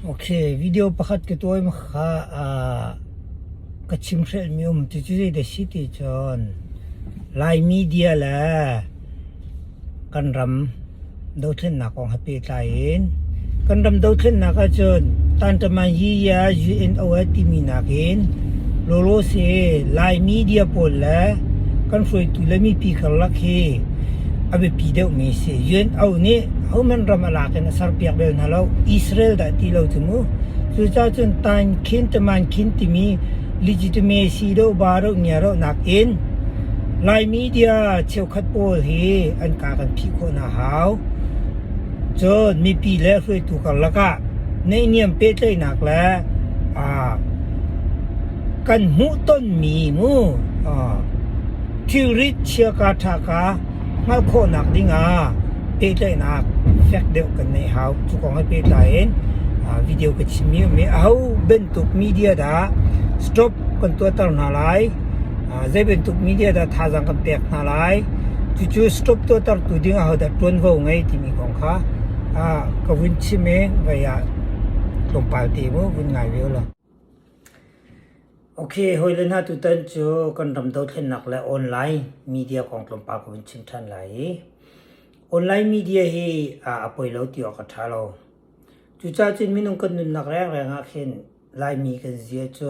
Ok, video pakhat ka tuahmi kha aa ka chimhhrelhmi a um. Cucu zeidah a si ti cun Lai media le kan ram dothlennak kong he pehtlai in kan ram dothlennak ahcun Tantamanyiya UNO timi nakin lawlaw si Lai media pawl le kan hruaitu le mipi karlak hi a biapi deuhmi a si. UNO nih hohmanh ram a lak in a serpiak bel hna lo. Israel dah ti lo cu mu. Cucaah cun tain khin taman khin timi legitimacy dawh ba dawh ngia dawhnak in Lai media cheukhat pawl hi an ka kan phih khawh hna hau. Cun mipi le hruaitu karlak ah neihniam pehtlaihnak le aa, kan hmuhtonmi mu aa, Thilrit chia kaa ṭha kha hngalh khawhnak dingah pehtlaihnak fek deuh kan ngeih hau. Cu kong he pehtlai in video ka chimmi a um i aho bantuk media dah stop kan tuahter hna lai, zei bantuk media dah thazaang kan pek hna lai, cucu stop tuahtertu ding ahodah ṭuanvo ngei timi kong kha ka vun chim i vai ah tlawmpal te mu vun ngai ve u law. Okay, hawile hna tutan cu kan ram dothlennak le online media kong tlawmpal ka vun chim ṭhan lai i online media hi a poi lo ti awk a ṭha lo. Cucaah cun minung kan nunnak rengreng ah khin Laimi kan zia cu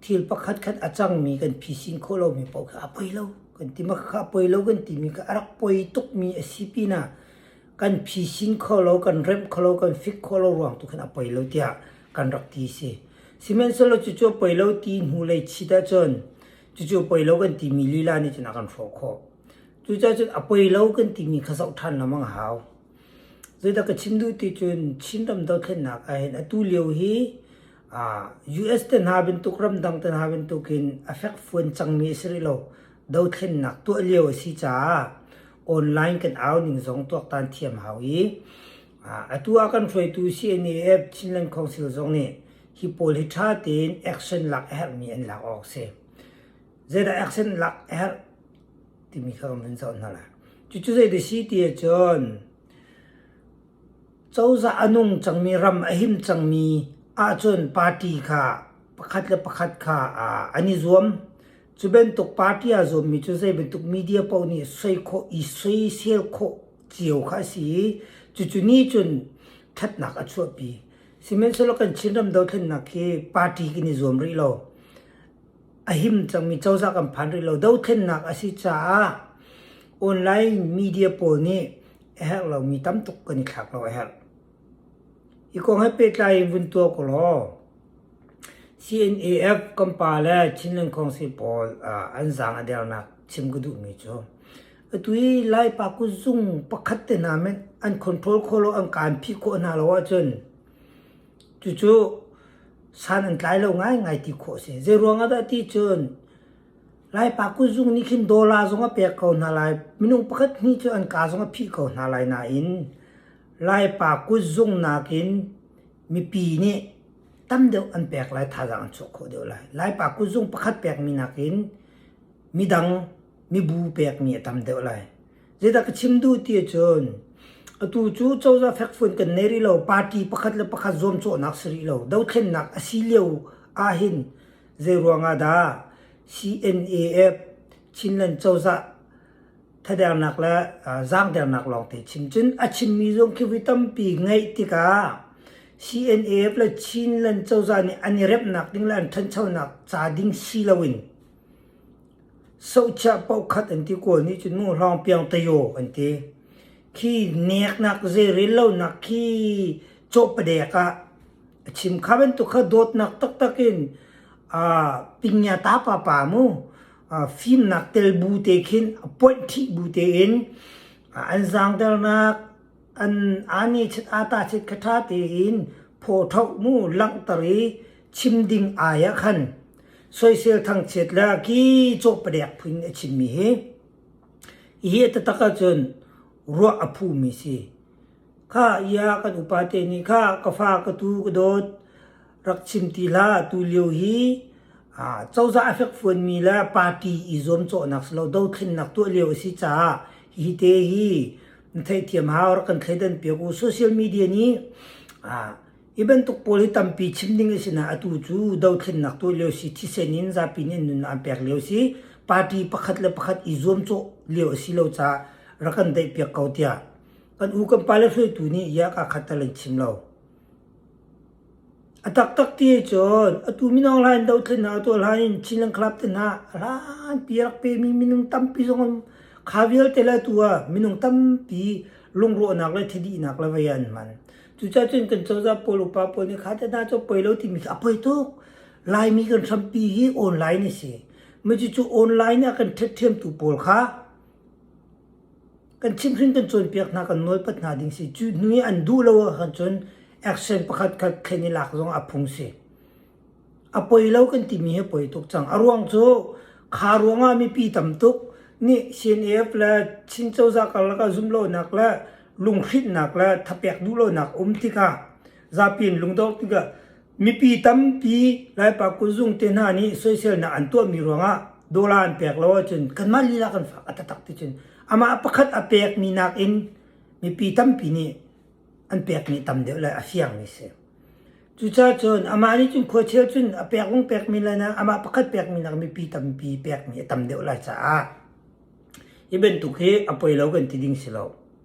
thil pakhatkhat a cangmi kan phisin khawh lomi paoh kha a poi lo kan ti. Mahka a poi lo kan timi kha a rak poi tukmi a si pinah kan phisin kho lo, kan remh kho lo, kan fik kho lo ruang tu khin a poi lo tiah kan rak ti si. Sihmanhsehlaw cucu poi lo ti hnu lei chit ahcun cucu poi lo kan timi lila nih cun a kan hrawh khawh. Cucacun a poi lo kan timi kha zoh ṭhan lamang a hau. Zeidah ka chim duh ti cun Chin ram dothlennak ahhin atu lio hi US te hna bantuk ramdang te hna bantukin a fekfuan cangmi a si rih lo. Dothlennak tuah lio a si caah online kan au ning zong tuaktan thiam hau i Atu ah kan hruaitu CNAF Chinland Council zong nih hi pawl hi ṭha tein action lak a herhmi an lak awk a si. Zeidah action lak a herh timi kha kan vun zoh hna la. Cucu zeidah si ti ahcun cozah a nung cangmi ram a him cangmi ahcun party kha pakhat le pakhat kha an i zuam. Cu bantuk party aa zuammi cu zei bantuk media paoh nih soi khawh i soisel khawh cio kha a si i cucu nih cun ṭhatnak a chuahpi. Sihmanhsehlaw kan Chinram dothlennak hi party kan i zuam rih lo. A him cangmi cozah kan phan rih lo. Dothlennak a si caah online media pawl nih a herh lomi tam tuk kan i thlak lo a herh. Hi kong he pehtlai in vun tuah ko law, CNAF kan pa le Chinland Council pawl ah an zaang a dernak chim ka duhmi cu Atui Laipa kuzung pakhat te hna men an control kho lo, an kan phih khawh hna lo ahcun cucu san an tlai lo ngaingai ti khawh a si. Zeiruang ah dah ti cun Laipa kuzung nih khin dollar zong a pek ko hna lai, minung pakhat hnih cu an kaa zong a phih ko hna lai nain Laipa kuzung nakin mipi nih tam deuh an pek lai thazaang an chuah khawh deuh lai. Laipa kuzung pakhat pekmi nakin midang mibu pekmi a tam deuh lai. Zeidah ka chim duh ti cun atu cu cozah fekfuan kan nei rih lo party pakhat le pakhat zuamcawhnak si rih lo dothlennak a si lio ahhin zei ruangah dah CNAF Chinland cozah thadernak le zaangdernak lawngte chim cun a chimmi zong khi vui tampi ngeih tikah CNAF le Chinland cozah nih an i remnak ding le an ṭhanchonak ca ding si loin Sochah paoh khat an ti kawl nih cun nu hlawng piangtayo an ti. Khi neknak zei rel lonak khi cawhpadek ah a chim. Kha bantuk kha dawtnak taktak in aa pingia ta pa pa mu aa fimnak tel bu te khin a ponh ṭhih bu tein aa an zaangdernak, An ani chit ata chit kha ṭha tein phawṭhok mu langhter i chim ding ai ah khan soisel thangchiat le ki caw padek phun a chimmi hi hi a tatak ahcun ruah a phumi si. Kha ia kan upate nih kha ka fa ka tu ka dawt rak chim ti hlah. Atu lio hi cozah a fekfuanmi le party i zuamcawhnak si lo dothlennak tuah lio a si caah hi te hi theihthiam hau rak kan thleidan piak u. Social media nih hi bantuk pawl hi tampi chim ding a si na atu cu dothlennak tuah lio si thisen in zapi nih nun an pek lio si party pakhat le pakhat i zuamcawh lio a si lo caah rak kan daih piak ko tiah kan u kan pale hruaitu nih yak a khat talan chim lo. A taktak ti ahcun atu mino hla in dohthlennak a tuah hlan in Chinland Club te hna a hlanpi a rak pemi minung tampi zong an kha vialte le atu ah minung tampi lungrawhnak le thidihnak le vei ah an hman. Cucaah cun kan cozah pawl upa pawl nih kha teh hna cu poi lo timi khi a poi tuk. Laimi kan hrampi hi online a si. Cucu online ah kan tthatthiamtu pawl kha kan chimhrin kan cawnpiak hna kan nawlpat hna ding si cu hnu i an duh lo ahcun cun action pakhat khat thlen i lak zong a phung si a poi lo kan timi hi poi tuk cang a ruang cu kha ruangah mipi tam tuk nih CNF le Chin cozah karlak ah zumlonak le lunghrinhnak le thapek duhlonak um tikah zapi in lungdor tikah mipi tampi Laipa kuzung te hna nih soiselnak an tuahmi ruangah dollar an pek lo ahcun kanmah lila kan fak a tatak ticun amah pakhat a pekmi nakin mipi tampi nih an pekmi tam deuh lai a fiangmi si. Cucacun amah nih cun khuachel cun a pek wong pekmi lai na amah pakhat pekmi nak mipi tampi pekmi a tam deuh lai caah hi bantuk hi a poi lo kan ti ding si lo.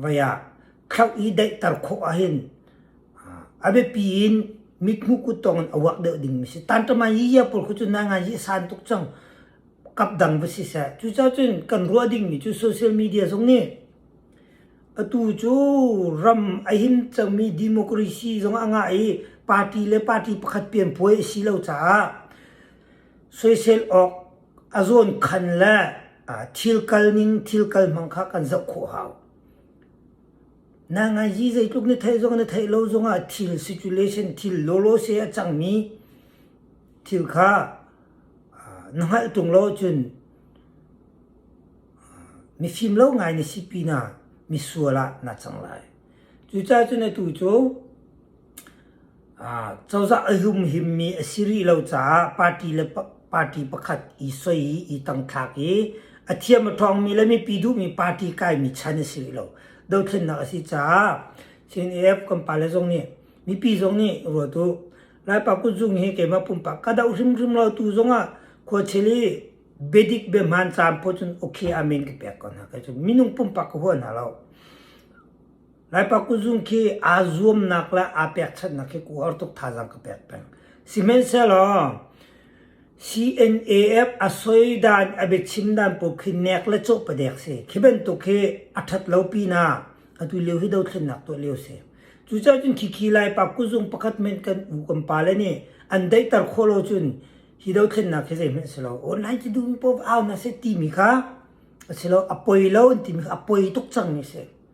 vai ah khlauh i daihter khawh ahhin a biapi in mithmuh kut tawngin a uak deuh ding mi si tanṭama yiyia pawl khu cu na ngai yi san tuk cang kap dang va si seh cu ca cun kan ruah ding mi cu social media zong nih atu cu ram a him cangmi democracy zong a ngah i party le party pakhat pian puai a si lo caah soisel awk A zawnkhan le thil kal ning thil kal hmang kha kan zoh khawh hau. Na ngaizi zeitluk na theih zong na theih lo zongah thil situation thil lawlawse a cangmi thil kha na hngalh tung lo ahcun mifim lo ngai na si pinah misual ah na cang lai. Cucaah cun atu cu Cozah a humhimmi a si rih lo caah party le party pakhat i soi i i tangthlak i a thiam a ṭhawngmi le mipi duhmi party kaimi chan a si rih lo. Dothlennak a si caah CNF kan pale zong nih mipi zong nih i ruat u. Laipa kutzung hi keimah pumpak ka doh hrimhrim lo tu zongah khuachel i biadik biahman caam phawt cun okay amen ka pek ko hna. Minung pumpak ka huat hna lo. Laipa kuzung khi aa zuamnak le aa pekchanhnak hi ku har tuk thazaang ka pek peng. Sihmanhsehlaw CNAF a soidan a biachim dan paoh khi nek le cawh padek si. Khi bantuk hi a ṭhat lo pinah atu lio hi dothlennak tuah lio si. Cucaah cun khikhi Laipa kuzung pakhat hmenh kan u kan pale nih an daihter khawh lo cun hi dothlennak hi zeihmanh a si lo. Online cu duhmi poh au hna seh timi kha a si lo. A poi lo an timi kha a poi tuk cang mi a si.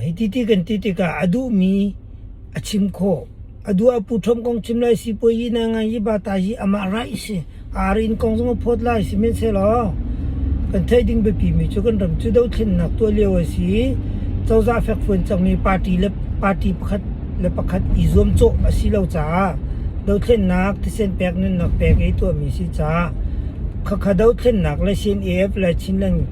Hiti ti kan ti tikah a duhmi a chim khawh. A duh ah Pu Ṭhawm kong chim lai, sipuazi na ngai i pa ta hi amah raih a si. A ar in kong zong a phawt lai, sihmanhsehlaw kan theih ding biapimi cu kan ram cu dothlennak tuah lio a si i cozah fekfuan cangmi party le party pakhat le pakhat i zuamcawh a si lo caah dothlennak, thisen pek, nunnak pek i tuahmi si caah khakha dothlennak le CNAF le Chinland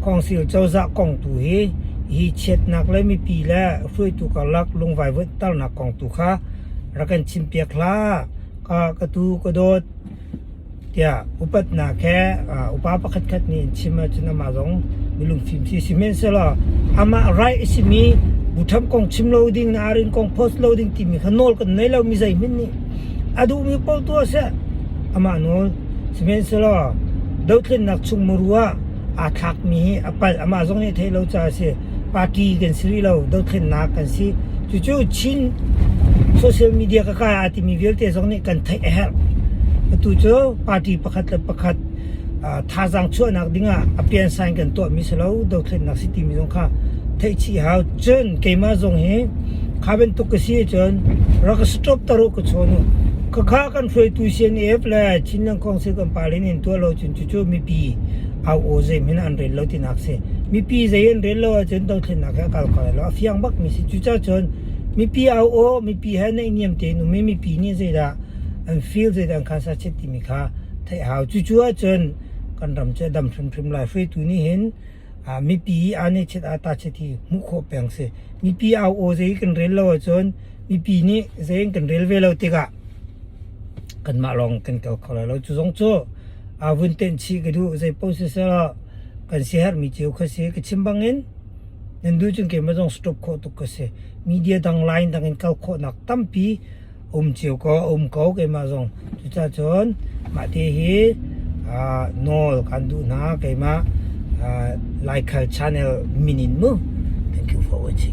Khawngsil cozah kong tu hi hi chiatnak le mipi le hruaitu karlak lungvaivuaihternak kong tu kha rak kan chim piak hlah. Ka ka tu ka dawt tiah upatnak he upa pakhatkhat nih an chim ahcun amah zong milungfim si sihmanhsehlaw amah right a simi bu ṭham kong chim lo ding, arin kong post lo ding timi kha nawl kan nei lo mi zeihmanh nih. A duhmi paoh tu ah seh amah nawl. Sihmanhsehlaw dothlennak chung muru ah aa thlakmi hi a palh. Amah zong nih a theih lo caah a si. Party kan si rih lo, dothlennak kan si. Cucu Chin social media ka kai aa timi vialte zong nih kan theih a herh. Atu cu party pakhat le pakhat uh, thazaang chuahnak dingah a pian sign kan tuahmi si lo, dothlennak si timi zong kha theihchih hau. Cun keimah zong hi kha bantuk ka si ahcun rak ka stop taru ka chawn u. Khakha kan hruaitu CNF le Chin Nang Kong Sel kan pale nih an tuah lo cun cu mipi au aw zeimin an rel lo tinak a si. Mipi zei an rel lo ahcun dothlennak he a kal ko lai lo. A fiang bakmi si. Cucacun mipi au aw, mipi he naihniam tein um i mipi nih zeidah an feel, zeidah an khan sachet timi kha theih hau. Cucu ahcun kan ram cu a dam hrimhrim lai. Hruaitu nih hin ah mipi i aa nechet aa tachet hi hmuh khawh peng si. Mipi au aw zei kan rel lo ahcun mipi nih zei an kan rel ve lo tikah Kanmah lawng kan kal kho lai lo. Cu zong cu aa vun tenh chih ka duh. Zeipaoh siseh kan siaherhmi cio kha si. Ka chim bangin nan duh cun keimah zong stop khawh tuk ka si. Media dang, line dang in kal khawhnak tampi a um cio ko. A um ko keimah zong. Cucaah cun mah te hi nawl kan duh hna. Keimah Laikhal Channel min in mu kan tlu fo a si.